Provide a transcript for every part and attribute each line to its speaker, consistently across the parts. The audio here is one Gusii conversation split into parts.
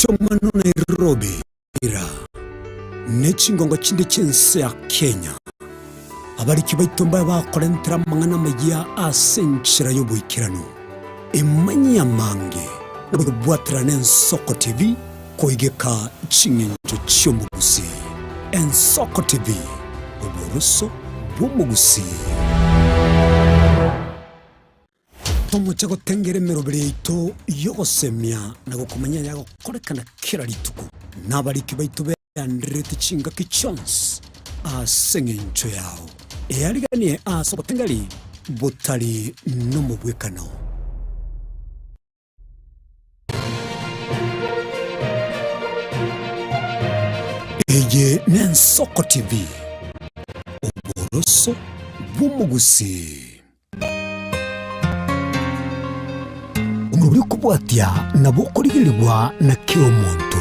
Speaker 1: Chomano Nairobi ira ne chingongo chinde chi'ense ya Kenya, abariki baito mbabe bakorentera amang'ana amayia ase enchera y'oboikeranu. Imanyia amange na gokobwaterera na Ensoko TV koigeka ching'encho chi'omogusi. Ensoko TV, oboroso bw'omogusi. Tomoche gotengera emerobera yaito y'ogosemia na gokomanya eyagokorekana kera rituko nabariki baito berandererete chingaki chionsi ase engencho yao eyariganie ase obotengeri botari nomobwekano. Eye n'Ensoko TV, oboroso bw'omogusii. Omobere okobwatia nabo okorigerigwa na kera omonto.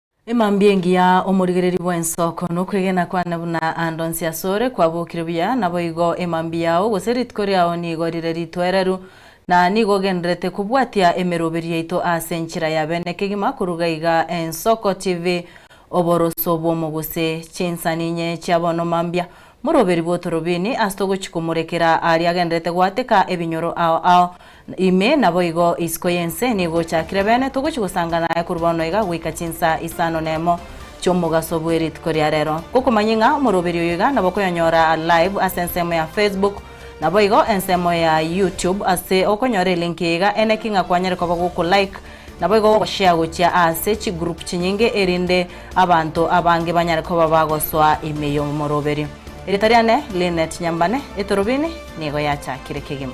Speaker 2: Emambia engiya, omorigereria bw'ensoko, nokwegena kwane buna ande onsi asore kwabokire buya, naboigo emambia yao gose rituko riao nigo rire ritoereru, na nigo ogenderete kobwatia emeroberi yaito aase enchera ya bene kegima koruga iga ensoko chivi oboroso bw'omo gose chinsani inye chia bono mambia Moroberigwe otorobini ase togochia komorekera aria agenderete goateka ebinyoro ao ao. Ime naboigo isiko y'ense nigo ochakire bene, togochia gosanga naye korwa bono iga goika chinsaa isano nemo chi'omogaso bwe rituko ria rero. Ngokomanyia ng'a omoroberi oyo iga nabokoyonyora live ase ensemo ya Facebook, Naboigo ensemo ya YouTube ase okonyora elinki iga ene ki ng'a kwanyare koba goku like naboigo gogoshare gochia aase chi group chinyinge erinde abanto abange banyare koba bagosoa ime y'omoroberio. Erieta riane Lynette Nyambane, Etorobini nigo yachakire kegima.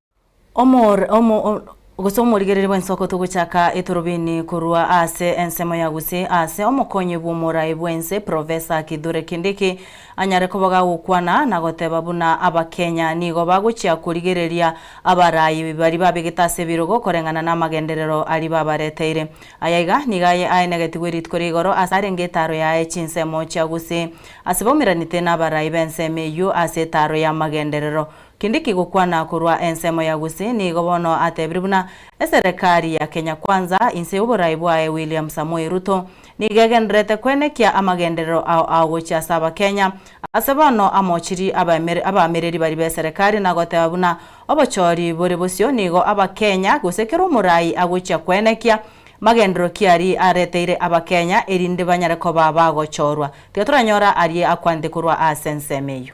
Speaker 2: Omor, omo, o, gose omorigereria bw'ensoko togochaka etorobini korwa ase ensemo ya gose ase omokonyi bw'omorai bw'ense Professor Kithure Kindiki anyare koboga gokwana na goteba buna Abakenya nigo bagochia korigereria abarayi bari babegete ase ebirogo koreng'ana namagenderero aria babareteire. Aya iga nigo aye aenegetigwe rituko ria igoro ase arenge etaro yaye chinsemo chia gose ase baumeranete nabarayi b'ensemo eyio ase etaro y'amagenderero. Kende kegokwana korwa ensemo ya gose nigo bono atebire buna eserekari ya Kenya Kwanza inse y'oboraai bwaye William Samoei Ruto nigo egendererete koenekia amagenderero ao aogochia ase Abakenya ase bono amochiri abaamereri baria b'eserekari na goteba buna obochori bore bosio nigo Abakenya gose kera omoraai agochia koenekia magenderero ki aria areteire Abakenya erinde banyare koba bagochorwa. Tiga toranyora aria akwanete korwa ase ensemo eyio.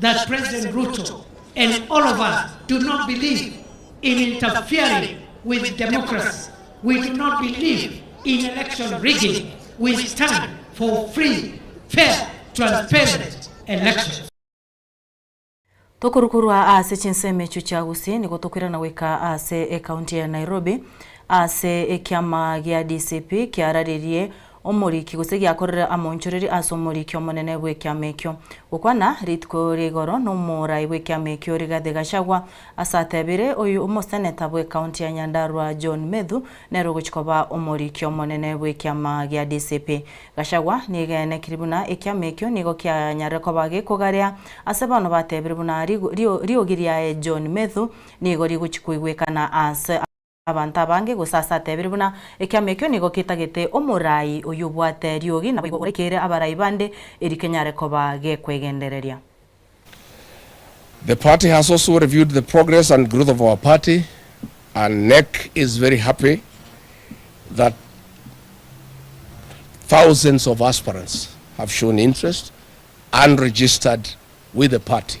Speaker 3: that President Ruto and all of us do not believe in interfering with democracy, we do not believe in election rigging, we stand for free, fair, transparent elections. Tokorwa
Speaker 2: korwa ase chinsemo echio chia Gusii nigo tokoirana goika ase ekaunti ya Nairobi ase ekiama gia DCP kiararerie Omoriki, gose giakorire amoonchoreri ase omoriki omonene bw'ekiama ekio. Gokwana rituko ria igoro nomorai bw'ekiama ekio Rigathi Gachagua ase ateebire oyio omoseneta bw'ekaunti ya Nyandarua John Methu nere ogochi koba omoriki omonene bw'ekiama gia DCP. Gachagua niaegenekirie buna ekiama ekio nigo kianyarire koba gekogarea ase bono bateebire buna riogi riaye John Methu nigo rigochi koigwekana ase abanto abange, gose ase ateebire buna, Ekiama ekio nigo ketagete omoraai oyio obwate riogi, naboigo oraikeire abaraai bande, erio kenyare koba gekwegendereria.
Speaker 4: The party has also reviewed the progress and growth of our party and NEC is very happy that thousands of aspirants have shown interest and registered with the party.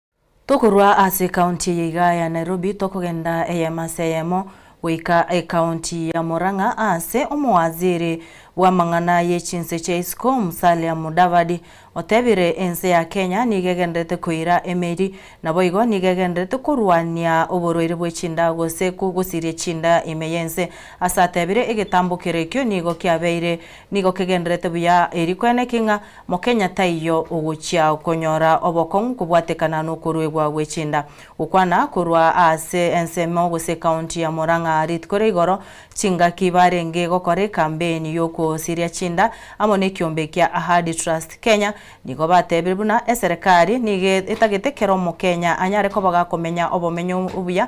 Speaker 2: Tokorwa ase county eye igaa ya Nairobi tokogenda eyemo ase eyemo goika ecounty ya Murang'a aase omowaziri bw'amang'ana ye chinse chia isiko Musalia Mudavadi otebire ense ya Kenya nigo egenderete koira emeeri naboigo nigo egenderete korwania oborwaire bwe chinda gose gosiria chinda ime yense ase atebire egetambo kere ekio nigo kiabeire nigo kegenderete buya eri kwene ki ng'a Mokenya taiyo ogochia konyora obokong'u kobwatekana nokoruegwa gwe chinda. Gokwana korwa aase ensemo gose county ya Murang'a rit kore igoro, chingaki barenge gokora ekambeini yokosiria chinda amo nekiombe kia Ahadi Trust Kenya nigo batebire buna eserekari nigo etagete kera omokenya anyare koba gakomenya obomenyo obuya